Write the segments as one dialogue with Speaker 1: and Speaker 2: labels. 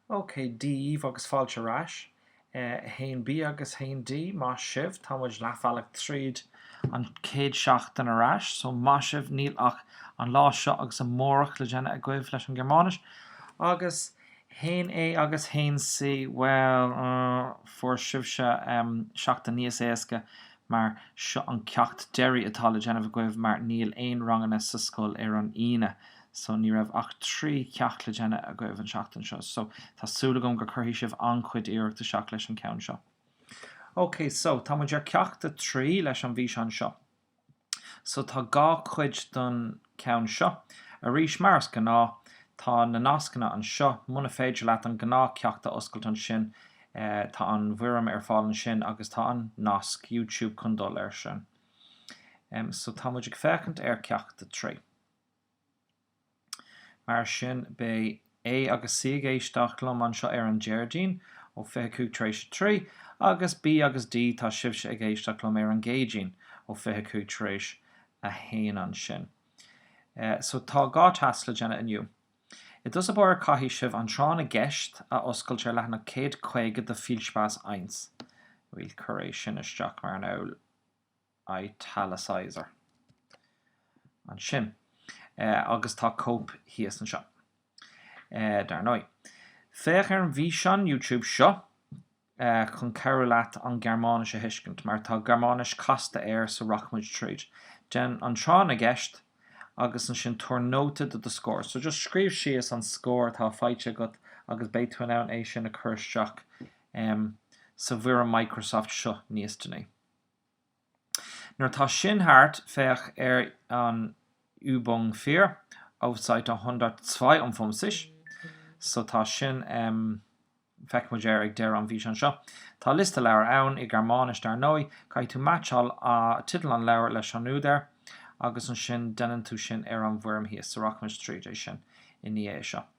Speaker 1: OK, Dia daoibh agus fáilte ar ais. 1B agus 1D, maith sibh, tá muid leathbhealach tríd an chéad seachtain ar ais, so maith sibh, níl ach an lá seo agus amárach le déanamh agaibh leis an Ghearmáinis. Agus 1A agus 1C, bhuel, eh, fuair sibhse, em, seachtain níos éasca mar seo an ceacht deiridh atá le déanamh agaibh mar níl aon ranganna sa scoil ar an Aoine so ní raibh ach trí cheacht le déanamh agaibh an seachtain seo so tá súil agam gur cuirfidh sibh an-chuid iarracht isteach leis an ceann seo. Ok so tá muid ar ceacht a trí leis an bhfíseán seo so tá dhá cuid don ceann seo. Arís, mar is gnáth, tá na nascanna anseo, muna féidir leat an gnáth ceacht a oscailt ansin tá an bhfoirm ar fáil ansin agus tá an nasc YouTube chun dul air sin. So tá muid ag féachaint ar ceacht a trí. Mar sin beidh. A agus C ag éisteacht liom anseo ar an Déardaoin ó 25 tar éis a trí, agus B agus D tá sibhse ag éisteacht liom ar an gCéadaoin ó 25 tar éis a haon ansin. So tá dhá tasc le déanamh inniu. I dtús báire caithfidh sibh an Tráth na gCeist a oscailt ar leathanach 150 de Viel Spaß Eins. Bhuel, cuir é sin isteach mar an aul italicizer ansin, agus tá cóip thíos anseo, dar ndóigh. Féach ar an bhfíseán YouTube seo chun cabhrú leat an Ghearmáinis a thuiscint, mar tá Gearmáinis casta air so rachaidh muid tríd. Déan an tráth na gceist agus ansin tabhair nóta de do scór. So just scríobh síos an scór atá faighte agat agus beidh tú in ann é sin a chur isteach sa bhfoirm Microsoft seo níos déanaí. Nuair atá sin thart, féach ar an Übung 4, auf Seite 152 so tá sin feicfidh muid air ag deireadh an bhfíseáin seo. Tá liosta leabhar ann, i Gearmáinis dar ndóigh. Caithfidh tú meaitseáil teideal an leabhair leis an údar agus ansin déanann tú sin ar an bhfoirm thíos so rachaimid tríd é sin i ndiaidh é seo.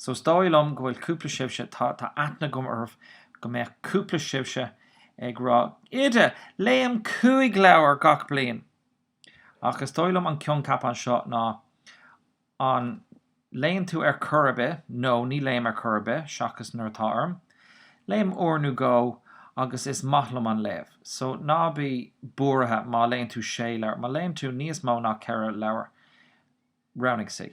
Speaker 1: So is dóigh liom go bhfuil cúpla sibhse, atá aithne agam oraibh, go mbeadh cúpla sibhse ag rá, Oide, léim cúig leabhar gach bliain! Ach is dóigh liom an coincheap anseo ná, an léann tú ar chor ar bith? No, ní léim ar chor ar bith, seachas nuair atá orm. Léim uair nó dhó agus is maith liom an léamh. So ná bí buartha má léann tú sé leabhar, má léann tú níos mó ná ceithre leabhar, roghnaigh C.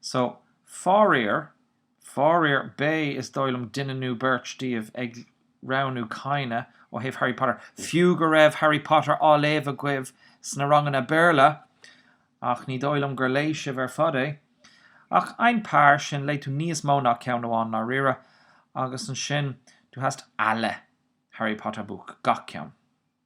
Speaker 1: So, faraor, faraor, beidh, is dóigh liom, duine nó beirt díobh ag roghnú keine ó thaobh Harry Potter, fiú go raibh Harry Potter á léamh agaibh sna ranganna Béarla, ach ní dóigh liom gur léigh sibh ar fad é. Ach ein paar, sin, léigh tú níos mó ná ceann amháin, ndáiríre, agus ansin, du hast alle Harry Potter Buch, gach ceann.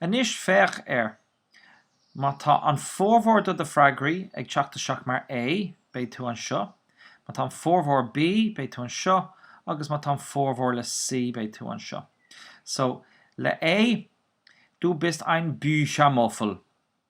Speaker 1: Anois féach air. Má tá an formhór do do freagraí ag teacht isteach mar A, beidh tú anseo, má tá an formhór B, beidh tú anseo, agus má tá an formhór le C, beidh tú anseo. So, le A, Du bist ein Büchermuffel.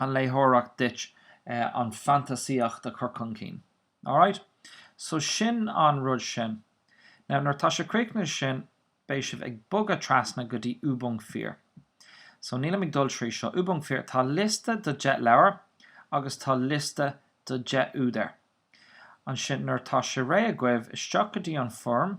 Speaker 1: an léitheoireacht duit an fantasaíocht a chur chun cinn. Alright? So sin an rud sin. Now nuair atá sé críochnaithe sin beidh sibh ag bogadh trasna go dtí Übung vier. So nílim ag dul trí seo. Übung vier, tá liosta de 10 leabhar agus tá liosta de 10 údar. Ansin nuair atá sé réidh agaibh isteach go dtí an foirm,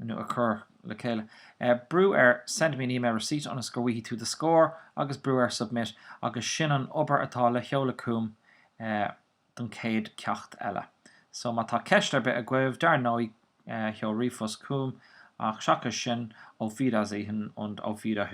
Speaker 1: nó cur le chéile, brú ar Send me an email receipt ionas go bhfaighidh tú do scór agus brú ar Submit agus sin an obair atá le sheoladh chugam don chéad cheacht eile. So má tá ceist ar bith agaibh, dar ndóigh, sheol ríomhphost chugam ach seachas sin, Auf Wiedersehen und Auf Wieder